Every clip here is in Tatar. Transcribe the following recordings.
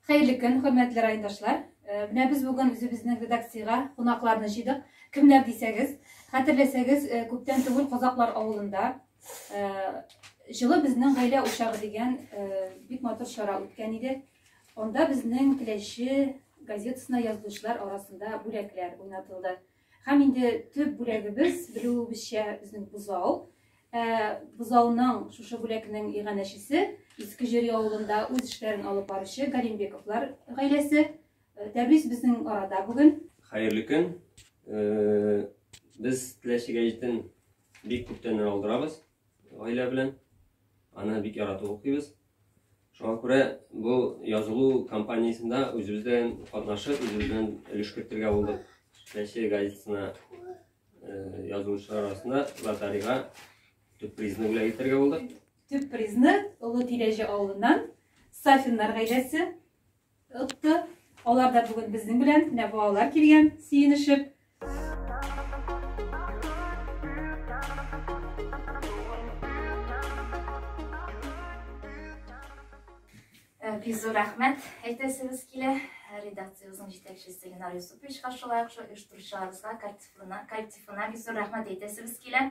Хәерле көн, хөрмәтле райондашлар! Э, менә без бүген үзебезнең редакциягә кунакларны җыйдык. Кемнәр дисәгез, хәтерләсәгез, э, күптән түгел Казаклар авылында э, җылы безнең гаилә учагы дигән бик матур чара үткән иде. Анда безнең Теләче газетасына язылучылар арасында бүләкләр уйнатылды. Һәм инде төп бүләгебез, белүебезчә, безнең бозау. Ә, бозауның шушы бүләкнең иганәчесе Иске Җөри авылында үз эшләрен алып баручы Галимбековлар гаиләсе. Ә, Тәбрис безнең арада бүген. Хәерле көн. Э, Без теләчегә җитен бик күптәннән алдырабыз. Гаилә белән аны бик яратып укыйбыз. Шуңа күрә бу язылу кампаниясендә үзебез белән катнашып, үзебез белән өлеш кертергә булдык. Чәче газетасына э, язылучылар арасында лотерейга төп призны бүләк итәргә булдык. Төп призны Олы Тирәҗе авылыннан Сафиннар гаиләсе Ытты. Алар да бүген безнең белән, менә балалар килгән, сөенешеп. Э, бик зур рәхмәт әйтәсебез килә. Редакциябезнең җитәкчесе Ленар Юсуповичка, шулай ук оештыручыларыбызга, коллективына бик зур рәхмәт әйтәсебез килә.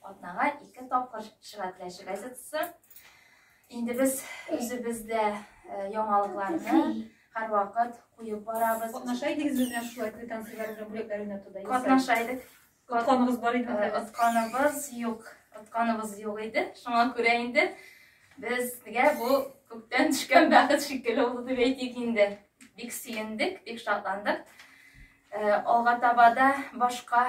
Атнага ике тапкыр Шыга теләче газетасы. Инде без үзебез дә э, яңалыкларны һәрвакыт куеп барабыз. Катнаша идегез безгә шулай квитанцияләр белән бүләкләр уйнатуда? Катнаша идек. Отканыбыз бар иде. Э, Отканыбыз юк. Отканыбыз юк иде. Шуңа күрә инде безгә бу күктән төшкән бәхет шикелле булды дип әйтик инде. Бик сөендек, бик шатландык. Э, алга таба да башка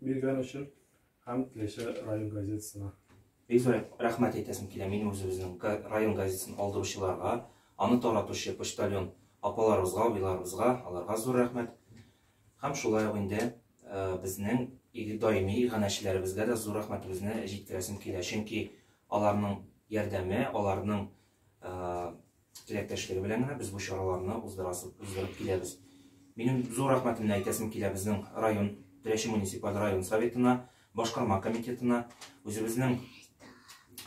Биргән өчен һәм Теләче район газетасына. Бик зур рәхмәт әйтәсем килә минем үзебезнең район газетасын алдыручыларга, аны таратучы почтальон апаларыбызга, абыйларыбызга, аларга зур рәхмәт. Һәм шулай ук инде безнең даими иганәчеләребезгә дә зур рәхмәтебезне җиткерәсем килә. Чөнки аларның ярдәме, аларның теләктәшлеге белән генә без бу чараларны уздырасы, уздырып киләбез. Минем зур рәхмәтемне әйтәсем килә безнең район, Теләче муниципаль район советына, башкарма комитетына, үзебезнең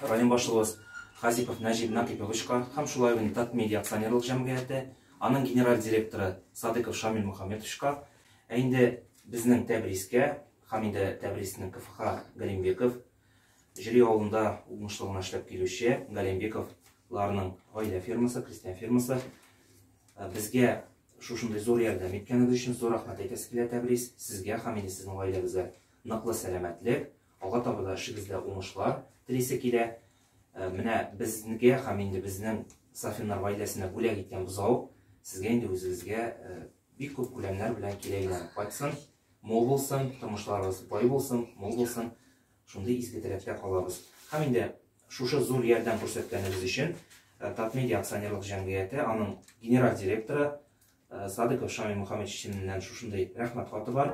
район башлыгыбыз Хазипов Нәҗип Накиповичка һәм шулай ук Татмедиа акционерлык җәмгыяте, аның генераль директоры Садыков Шамил Мухаммедовичка, ә инде безнең Тәбрискә, һәм инде Тәбриснең КФХ Галимбеков, Җөри авылында уңышлы гына эшләп килүче Галимбеков ларның гаилә фермасы, крестьян фермасы. Э, безгә шушындый зур ярдәм иткәнегез өчен зур рәхмәт әйтәсе килә Тәбрис. Сезгә һәм инде сезнең гаиләгезгә ныклы сәламәтлек, алга таба да эшегездә уңышлар телисе килә. Э, менә безгә һәм инде безнең Сафиннар гаиләсенә бүләк иткән бозау сезгә инде үзегезгә э, Бик күп күләмнәр белән кире әйләнеп кайтсын, мул булсын, тормышларыгыз бай булсын, мул булсын, шундый изге теләктә калабыз. Һәм инде шушы зур ярдәм күрсәткәнегез өчен э, Татмедиа акционерлык җәмгыяте, аның генераль директоры э, Садыков Шамил Мухаммедович исеменнән шушындый рәхмәт хаты бар.